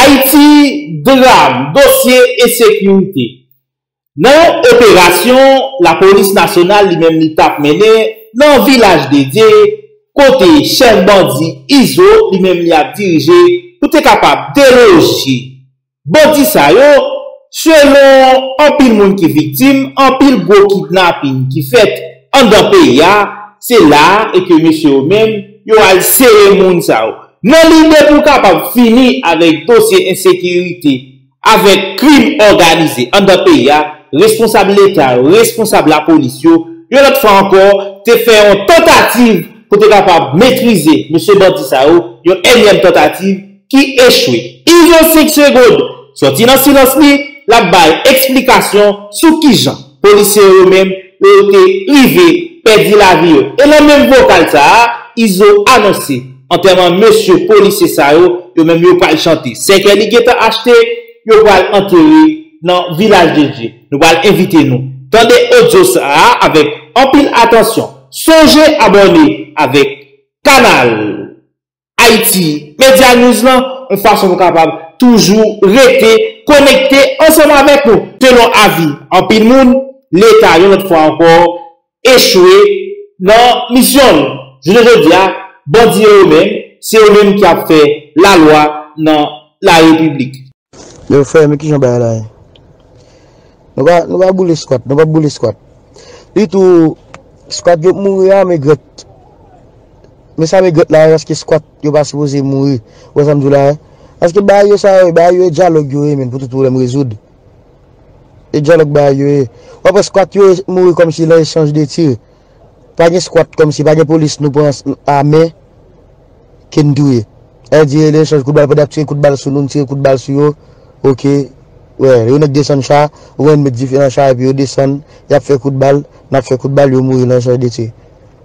Ayiti, Dram, dosye ensekirite. Nan yon operasyon lapolis nasyonal li menm li tap mennen nan Vilaj Dedye kote chèf bandi Izo li menm li ap dirije pou te kapab deloje bandi sa yo, selon anpil moun ki viktim, anpil gwo kidnaping ki fèt. andan peyi a, se la a e ke mesye yo menm, yo al sere moun sa yo. Nan lide pou kapab fini avèk dosye ensekirite, avèk krim òganize andan peyi a, responsab leta yo, responsab lapolis yo, yon lòt fwa ankò, te fè yon tantativ pou te kapab metrize mesye bandi sa yo, yon ènyèm tantativ ki echwe. Izo 5 segond, sòti nan silans li, l ap bay eksplikasyon sou kijan. Polisye yo menm yo te rive pèdi lavi yo. E nan menm vokal sa a, Izo anonse antèman mesye polisye sa yo, yo menm yo pral chante. Sèkèy li gentan achte, yo pral antere nan Vilaj de Dye. Nou pral envite nou tande odyo sa a avèk anpil atansyon. Sonje abòne avèk kanal! Ayiti Media News lan yon fason pou kapab toujou rete konekte ansanm avèk nou. Selon avi anpil moun, Leta yon lòt fwa ankò echwe nan misyon l. Jounen jodi a, bandi yo yo menm, se yo menm ki ap fè lalwa nan larepiblik. Yo frè men kijan bagay la ye. Nou pa nou pa boule squat nou pap boule squat pi tou squat yo k mouri a megrèt men sa megrèt la ye paske squat yo pa sipoze mouri ou wè sam diw la ye paske bagay yo sa yo ye bagay yo e dyalòg yo ye menn pou tout pwoblèm rezoud e dyalòg bagay yo ye wap wè squat yo mouri kòmsi lè echanj de tir. Pa gen squat komsi pa gen police nou pran a men ke n touye. Ew di rele echanj kout bal pandan yap tire kout bal sou nou n tire kout bal sou yo ok wè yon nèg desann cha ou wè n met dife nan cha epi yo desann yap fè kout bal nap fè kout bal yo mouri lan echanj de tir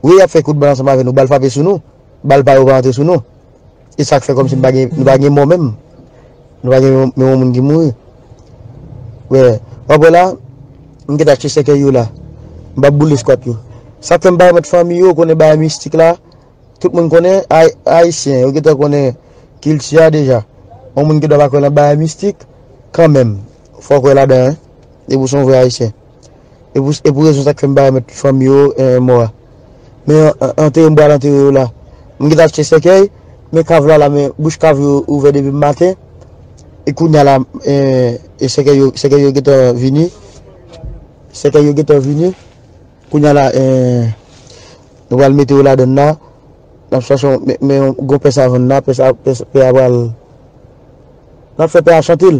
wi yap fè kout bal ansanm avè nou bal frape sou nou bal pa yo pa antre sou nou. E sak fè komsi nou pa gen mò menm? Nou pa gen menm yon moun ki mouri? Wè, wap wè la, m geta achte sèkèy yo la. M pa boule skwat yo. Sak fè m pa remèt fanmi yo konnen bagay mistik la, tout moun konnen Ayisyen, yo geta konnen kilti a deja. Yon moun ki dwa pa kwè nan bagay mistik, kanmenm, fòk wè ladan, depi w se yon vrè Ayisyen. E pou rezon sa ke m pa remèt fanmi yo mò a. Men antere m pou al antere yo la. M gentan achte sèkèy, men kav la la men bouch kav yo ouvè depi maten. E kounya la sèkèy yo gentan vini. Sèkèy yo gentan vini. Kounya la nou pral mete yo ladann la. N ap chache men yon gwo pè savann la. Pè a pral. N ap fè pè a chante l.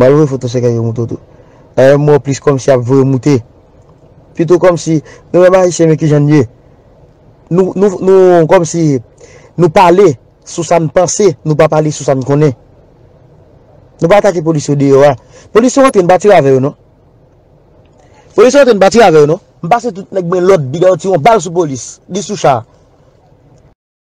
Mal voye foto sèkèy yo moute w tou. Ayy mwen plis kòmsi ap voye moute. Pito kòmsi nou menm ayisyen men kijan n ye. Nou nou nou kòmsi nou pale sou sa n panse nou pa pale sou sa n konnen. Nou pa atake polis yo deyò a. Polis yo rantre n pa tire avè yo non. Polis yo rantre n pa tire avè yo non. M pase tout nèk mwen lòd bida yo tire yon bal sou polis. Li sou cha.